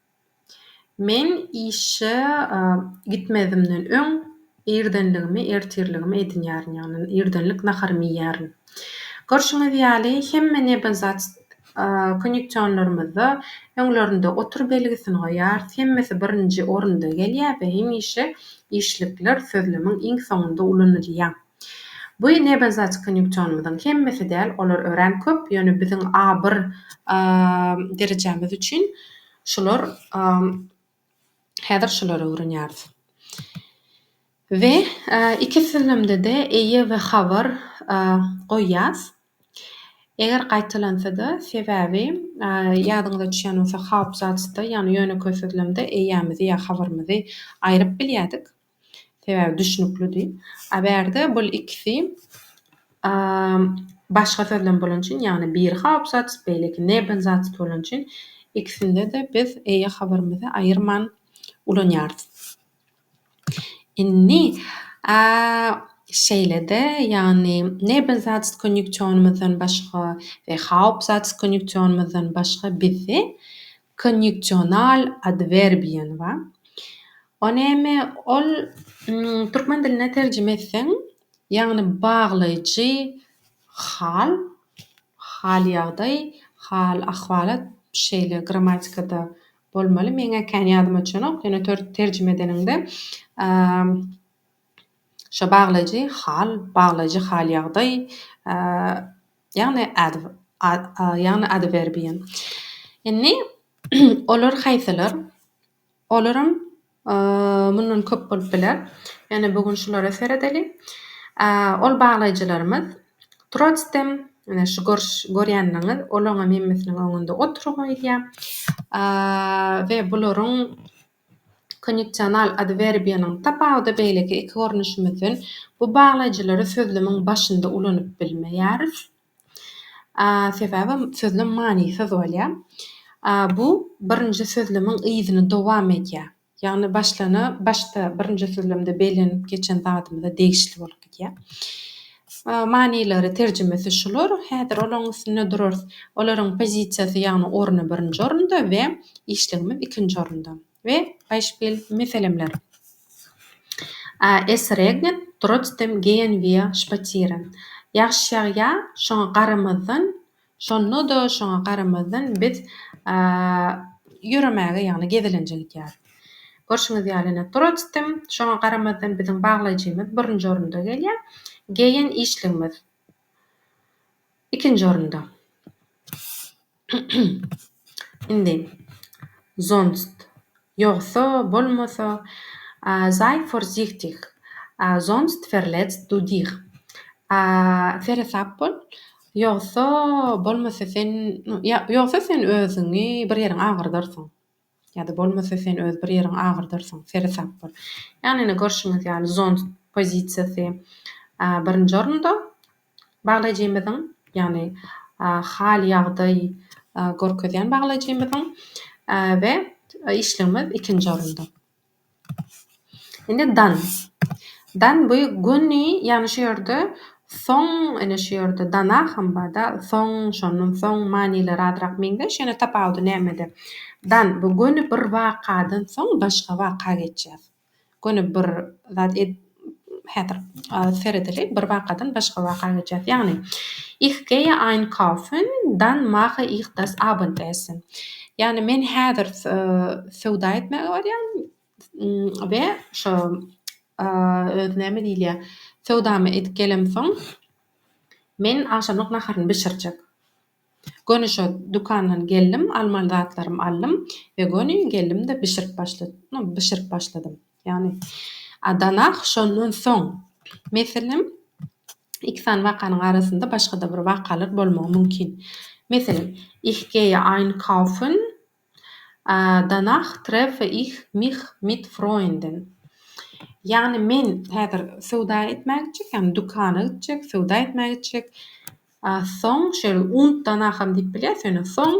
[SPEAKER 1] Men işe gitmezimden öň irdenligimi, ertirligimi edinýärin, ýagny irdenlik naharymy iýýärin. Görşüňiz ýaly, hemme nebenzat konýuksionlarymyzda öňlerinde otur belgisini goýarys, hemmesi birinji orunda gelýär we hemişe işlikler sözlemiň iň soňunda ulanylýar. Bu nebenzaç konýunksionymyzyň hemmesi däl, olar örän köp, ýöne biziň A bir derejämiz üçin şular häzir şulary öwrenýäris. We iki sözlemde-de eýe we habar goýýas. Eger gaýtalansada sebäbi ýadyňyza düşýän bolsa haupsatz-da ýagny ýönekeý sözlemde eýämizi ýa habarymyzy aýryp bilýädik. Sebäbi düşnüklidi. A bärde bul ikisi başga söz bilen bolan üçin, ýagny biri Hauptsatz, beýleki Nebensatz bolan üçin ikisinde-de biz eýe habarymyzy aýyrman ulanýarys. Indi şeýle-de, ýagny Nebensatz konýunksionymyzdan başga we Hauptsatz konýunksionymyzdan başga bizde Konýuksional adwerbiýany bar. O näme? Ol türkmen diline terjime etseň, ýagny baglaýjy hal, hal ýagdaý, hal ahwalat şeýle grammatikada bolmaly. Meň-ä kän ýadyma düşenok. Ýöne terjime edeniňde şo baglaýjy hal, baglaýjy hal ýagdaý, Ýagny ýagny adwerbiýa. Indi olar haýsylar? Olaram mundan köp bolup biler. Ýöne bu gün şulara seredeli. Ol baglaýjylarymyz trotsdem, ine şu görýänleriňiz, olaňam hemmesiniň öňünde oturyň öýdýän. We bularyň Kondisional adwerbiýanyň tapawudy beýleki iki görnüşimizden, bu baglaýjylary sözlemiň başynda ulanyp bilmeýäris. Sebäbi sözlem manysyz bolýar. Bu birinji sözlemiň yzyny dowam edýär. Ýagny başlana başda birinji sözlemde bellenip geçen zadymyza degişli bolup gidýär. Manylary, terjimesi şular. Häzir olaryň üstünde durarys. Olaryň pozisiýasy, ýagny orny birinji orunda we işligimiz ikinji orunda. We Beispiel, meselemler. Es regnet, trotzdem gehen wir spazieren. Ýagşy ýagýar, şoňa garamazdan, Şonda-da şoňa garamazdan biz ýöremäge, ýagny gezelenje gidýäris. Görşüňiz ýaly, ine, turistim. Şoňa garamazdan biziň baglaýjymyz birinji orunda gelýär. Geýen işligimiz ikinji orunda. Indi, sonst. Ýogsa bolmasa, a sei vorsichtig, a sonst verletzt du dich, a seresap bol, ýogsa bolmasa sen, ýogsa sen özüňi bir ýeriňi agyrdarsyň, ýa-da bolmasa sen öz bir ýeriňi agyrdarsyň, seresap bol. Ýagny ine görşüňiz ýaly sonst pozisiýasy birinji orunda. Baglajymyzyň, ýagny hal ýagdaý görkezýän baglajymyzyň we işligimiz ikinji orunda. Indi dan. Dan bu göni, ýagny şu ýerde soň, ine şu ýerde dana hem barda, soň, şondan soň manylary azrak meňzeş, ýöne tapawudy nämede? Dan bu göni bir wakadan soň başga waka geçýär. göni bir zat edip häzir seredeli bir wakadan başga waka geçýäs ýagny Ich gehe einkaufen dann mache ich das Abendessen ýagny men häzir söwda etmäge barýan we şo özi näme diýilýä söwdamy edip gelemsoň men agşamlyk naharyny bişirjek. Göni şo dükandan geldim, almaly zatlarymy aldym we göni geldim-de bişirip başladym. No, bişirip başladym. Ýagny, a danah şondan soň, meselem, iki sany wakanyň arasynda başga-da bir wakalar bolmagy mümkin. Meselem, ich geýe einkaufen, Danach treffe ich mich mit Freunden. Ýagny men häzir söwda etmäge gitjek, ýagny dükana gitjek, söwda etmäge gitjek. Soň, şeýle und danachem diýip bilýäris ýöne soň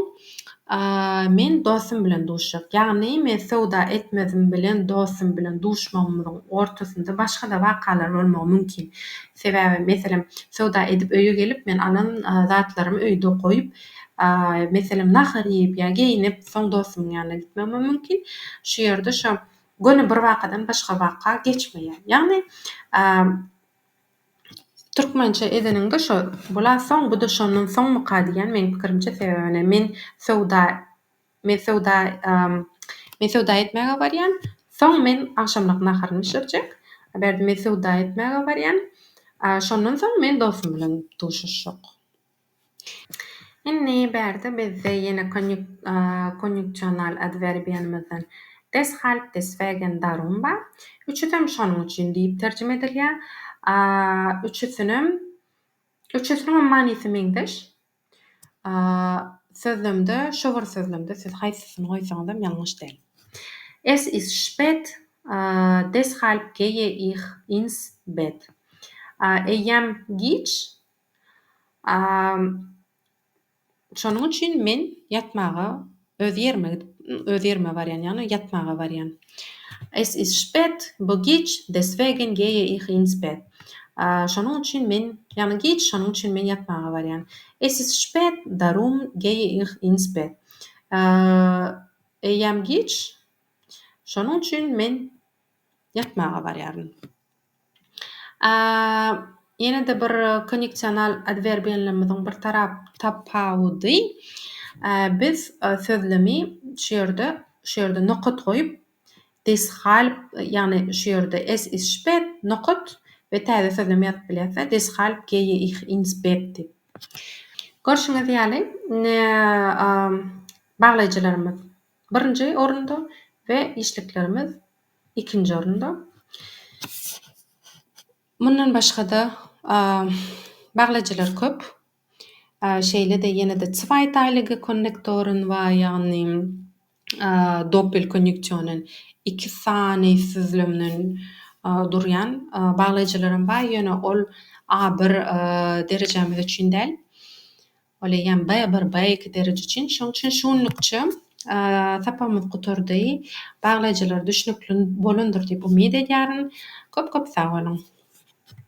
[SPEAKER 1] men dostum bilen duşjak. Ýagny men söwda etmezim bilen dostum bilen duşmagymyzyň ortasynda başga-da wakalar bolmagy mümkin. Sebäbi meselem söwda edip öýe gelip men alan zatlarymy öýde goýup, meselem, nahar iýip ýa geýnip, soň dostumyň ýanyna gitmegime mümkin. Şu ýerde şo göni bir wakadan başga waka geçmeýär. Ýagny, türkmençe edeniňde şo bul-a soň, bu-da şondan soňmyka diýýän meniň pikirimçe. Sebäbi men söwda, men söwda, men söwda etmäge barýan, soň men agşamlyk naharymy bişirjek. Bu ýerde men söwda etmäge barýan, şondan soň men dostum bilen duşuşjak. Indi bärde bizde ýene konýuksional adwerbiýamyzdan deshalb, deswegen, darum bar. Üçüsem şonuň üçin diýip terjime edilýär. Üçüsinem, üçüsiniňem manysy meňzeş. Sözlemde, şu bir sözlemde siz haýsysyny goýsaňyzam ýalňyş däl. Es ist spät, deshalb geýe ih ins bet. Eýýäm giç. Şonuň üçin men ýatmaga öz ýerime gidip, öz ýerime barýan, ýagny ýatmaga barýan. Es ist spät, bo giç, deswegen geýe ich ins bett. Şonuň üçin men, ýagny giç, şonuň üçin men ýatmaga barýan. Es ist spät, darum geýe ich ins bett. Eýýäm giç, şonuň üçin men ýatmaga barýaryn. A Ýene-de bir koneksional adwerbiýenlerimiziň bir tarap tapawudy, a biz sözlemi şu ýerde şu ýerde nokat goýup, deshalb ýagny şu ýerde es ist spät nokat we täze sözlem ýazyp bilýäs-de, deshalb geýe ih ins spät diýip. Görşüňiz ýaly, baglaýjylarymyz birinji orunda we işliklerimiz Ikinji orunda. Mundan başga-da baglyjylar köp. Şeýle-de ýene-de zweiteilige konnektoren bar, ýagny doppelkonýuksionen, iki sany süzlemden durýan baglyjylaram bar, ýöne ol A bir derejämiz üçin däl. Ol eýýäm bir baýaky dereje üçin. Şoň üçin şu günlükçe sapagymyz gutardy. Baglaýjylara düşnükli bolandyr diýip umyt edýärin. Köp-köp sag boluň!